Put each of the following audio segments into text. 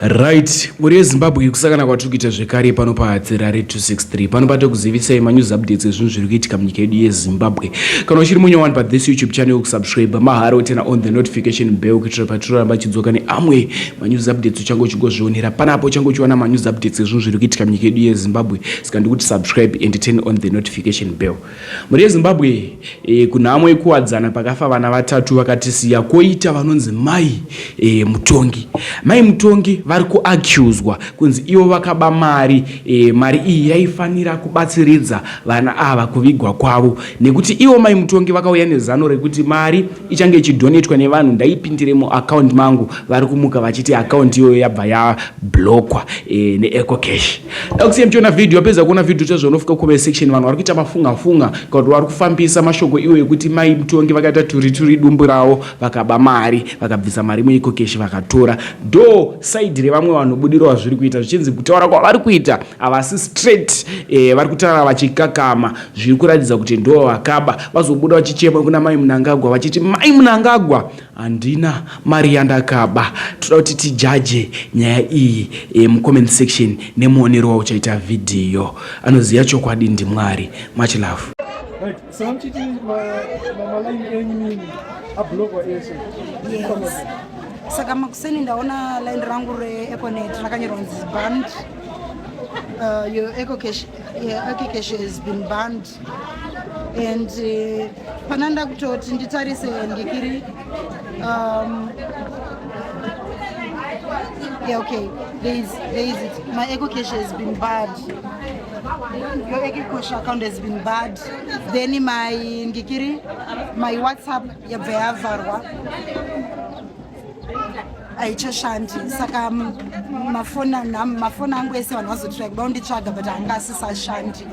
Right, mhuri yeZimbabwe kusakana kwatiri kuita zvekare pano paHatsirare 263 pano patokuzivisai manews updates ezvinhu zviri kuitika munyika yedu yeZimbabwe. Kana uchiri munya wani pathis YouTube channel kusubscribe mahara wotena on the notification bell kuitira patiroramba chidzoka neamwe manews updates uchange uchigozvionera panapo uchange uchiwana manews updates ezvinhu zviri kuitika munyika yedu yeZimbabwe saka ndikuti subscribe and turn on the notification bell. Mhuri yeZimbabwe e, kunhamo yekuwadzana pakafa vana vatatu vakatisiya koita vanonzi mai e, mutongi. Mai mutongi vari kuaccuswa kunzi ivo vakaba mari e, mari iyi yaifanira kubatsiridza vana ava kuvigwa kwavo nekuti ivo mai mutongi vakauya nezano rekuti mari ichange ichidonetwa nevanhu ndaipindire muaccount mangu vari kumuka vachiti account iyoyo yabva yablokwa e, eh, neeco cash dakusiya muchiona video apedza kuona video chazvo unofika comment section vanhu vari kuita mafunga funga kuti vari kufambisa mashoko iwo ekuti mai mutongi vakaita turituri dumbu ravo vakaba mari vakabvisa mari mueco cash vakatora do side revamwe vanhu budiro vazviri kuita zvichinzi kutaura kwavari kuita havasi straight e, vari kutaura vachikakama Zviri kuratidza kuti ndivo vakaba. Vazobuda vachichema kuna Mai Munangagwa vachiti Mai Munangagwa handina mari yandakaba. Toda kuti tijaje nyaya iyi e, mucomment section nemuonero wauchaita vhidhiyo. Anoziva chokwadi ndiMwari. Much love. Right. So I'm cheating my, my Malawi enemy a blogger also. Yes. Saka makuseni ndaona line rangu re Econet rakanyorwa nzi band uh, your Eco Cash Yeah, Akikeshe has been banned and uh, pana ndakutoti nditarise ndikiri um, yeah, okay there is, there is it my ekokeshe has been bad your ekokeshe account has been bad then my ndikiri my whatsapp yabva yavharwa haichashandi saka mafoni angu ese vanhu vazotirai kuda kunditsvaga but anga asisashandi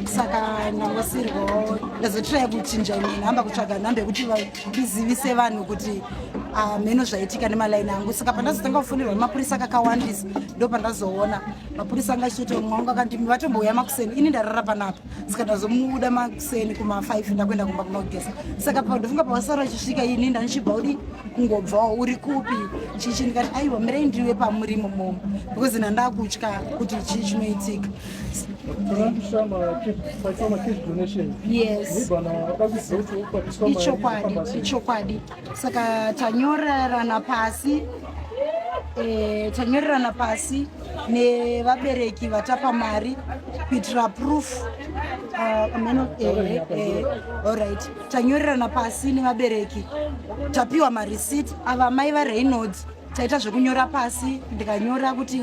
saka ndangosirwawo ndazotirai kuchinja imwe nhamba kutsvaga nhamba yekuti ndizivise vanhu kuti ah, mheno zvaitika nemalaini angu saka pandazotanga kufonirwa nemapurisa kakawandisa ndo pandazoona mapurisa anga achitoti mwangu akandimi vatombouya makuseni ini ndarara panapa zikatozomubuda makuseni kuma 5 ndakuenda kumba kunogeza saka pandofunga pawasara uchisvika ini ndanichibva udi kungobvawo uri kupi chichi ndikati aiwa mirei ndiriwe pamuri mumomo because nandakutya kuti chii chinoitika yes ichokwadi ichokwadi saka tanyorerana pasi e, tanyorerana pasi nevabereki vatapa mari kuitira proof uh, ameno eh, eh, alright tanyorerana pasi nevabereki tapiwa mareceipt ava mai vareynolds taita zvekunyora pasi ndikanyora kuti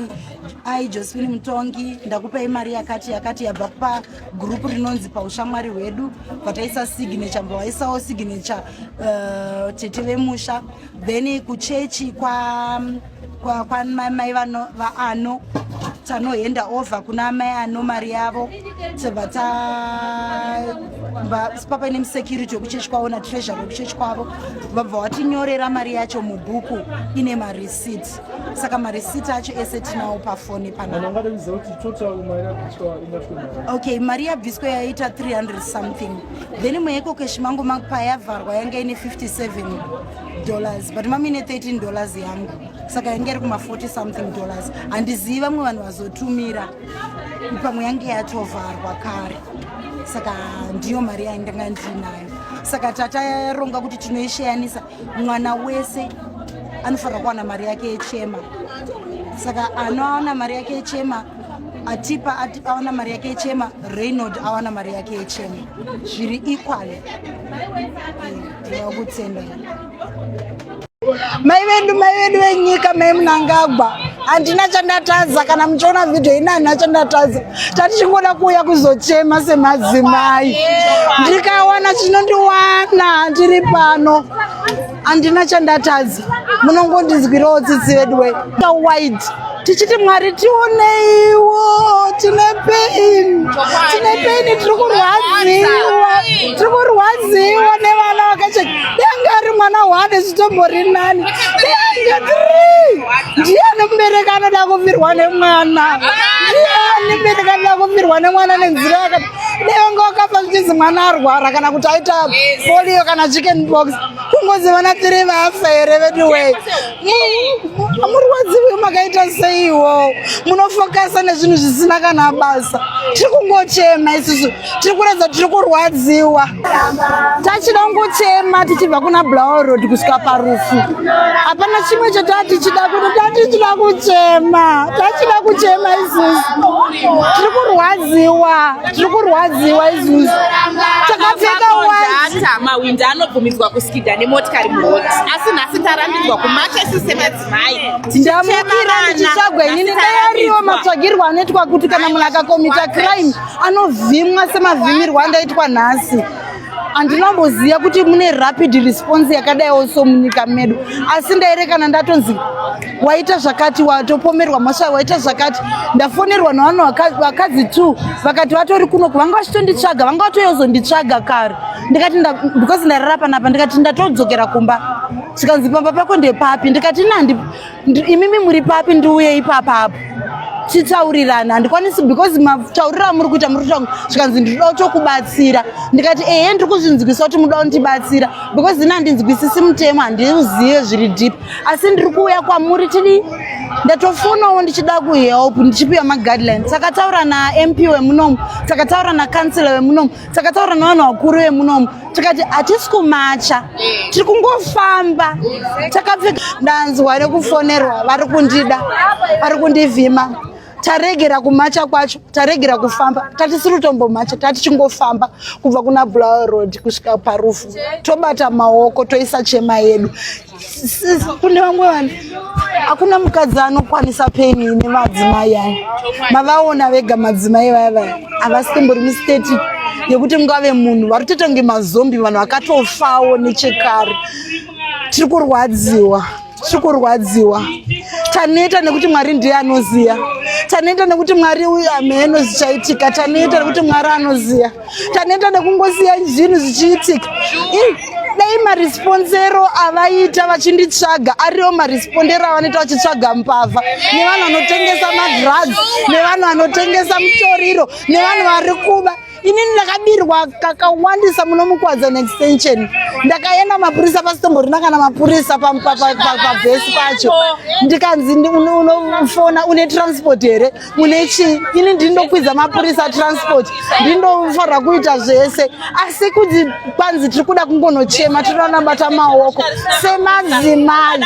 ai josephine mutongi ndakupei mari yakati yakati yabva pagurupu rinonzi paushamwari hwedu vataisa signature mbo vaisawo signature uh, tete vemusha then kuchechi kwa, kwa, kwa mai vaano tanoenda over kuna amai ano mari yavo tobva tapapa ine musecurity wekuchechi kwavo natreasure wekuchechi kwavo vabva watinyorera mari yacho mubhuku ine mareceipt saka mareceipt acho ese tinawo pafoni panaokay mari yabviswa yaita 300 something then imwe yekokeshi mangu payavharwa yanga ine 57 dollars but mamine 13 dollars yangu saka yange iri kuma 40 something dollars handizivi vamwe vanhu vazotumira pamwe yange yatovharwa kare saka ndiyo mari yaindanga ndiinayo saka tataronga kuti tinoisheyanisa mwana wese anofanira kuwana mari yake yechema saka anoaona mari yake yechema atipa ati, awana mari yake yechema reynold awana mari yake yechema zviri equally ndinokutsenda Mai vedu mai vedu venyika mai Mnangagwa handina chandatadza kana muchiona vhidhiyo ini handina chandatadza tati chingoda kuuya kuzochema semadzimai ndikawana chinondiwana ndiri pano handina chandatadza munongondinzwirawo tsitsi vedu we wide tichiti mwari tioneiwo tine pain tine pain tiri kurwadziwa tiri kurwadziwa nevana vakache denge ari mwana one zvitombori nani denge tiri ndiyani mubereki anoda kufirwa nemwana ndiyani mubereki anoda kufirwa nemwana nenzira yakati denge wakafa zvichizi mwana arwara kana kuti aita polio kana chicken box kungozivana tiri vafa here veduwei amurwadziwi makaita seiwo munofokasa nezvinhu zvisina kana basa tiri kungochema isusu tiri kuratidza tiri kurwadziwa tachida kungochema tichibva kuna blower road kusvika parufu hapana chimwe chotaa tichida kuno taa tichida kuchema tachida kuchema isusu tiri kurwadziwa tiri kurwadziwa isusu takapfeka wata mawindi anobvumidzwa kusi Ida nemotikari muroad asi nhasi tarambidzwa kumacha isu semadzimai ndamukira ndichitsvagwa inini dai ariwo matsvagirwo anoitwa kuti kana munhu akakomita crime anovhimwa semavhimirwo andaitwa nhasi andinomboziva kuti mune rapid response yakadaiwo so munyika medu asi ndairekana ndatonzi waita zvakati watopomerwa mhosva waita zvakati ndafonerwa navanhu vakadzi two vakati vatori kuno kuvanga vachitonditsvaga vanga vatoyozonditsvaga kare ndikati because ndairara panapa ndikati ndatodzokera kumba zvikanzi pamba pako ndepapi ndikati nandi imimi muri papi ndiuye ipapa apo titaurirana handikwanisi because matauriro amuri kuita muri kutonga zvikanzi ndinoda kutokubatsira ndikati ehe ndiri kuzvinzwisa kuti muda kundibatsira because ini handinzwisisi mutemo handiuzive zviri deep asi ndiri kuuya kwamuri tidi ndatofonawo ndichida kuhelp ndichipiwa maguidelines takataura namp wemunomu takataura nacancela wemunomu takataura nevanhu vakuru vemunomu tikati hatisi kumacha tiri kungofamba takapfeka ndanzwa nekufonerwa vari kundida vari kundivhima taregera kumacha kwacho taregera kufamba tatisiri kutombomacha tatichingofamba kubva kuna bulawa road kusvika parufu tobata maoko toisa chema yedu kune vamwe vanhu hakuna mukadzi anokwanisa peni ine madzimai aya mavaona vega madzimai vaya vaya havasimbori musteti yekuti mungave munhu vari kutoita kunge mazombi vanhu vakatofawo nechekare tiri kurwadziwa tiri kurwadziwa taneta nekuti mwari ndiye anoziva taneta nekuti mwari uyu ameno zichaitika taneta nekuti mwari anoziva taneta nekungosiya zvinhu zvichiitika dai marisponsero avaita vachinditsvaga ariwo marispondero avanoita vachitsvaga mbavha nevanhu vanotengesa madrugs nevanhu vanotengesa mutoriro nevanhu vari kuba inini ndakabirwa kakawandisa muno mukwadza neextension ndakaenda mapurisa pasitomborina kana mapurisa pavhesi pacho ndikanzi unofona une transport here mune chii ini ndiri ndokwidza mapurisa transport ndiri ndofanira kuita zvese asi kuti kwanzi tiri kuda kungonochema tiri kuda kunabata maoko semadzimai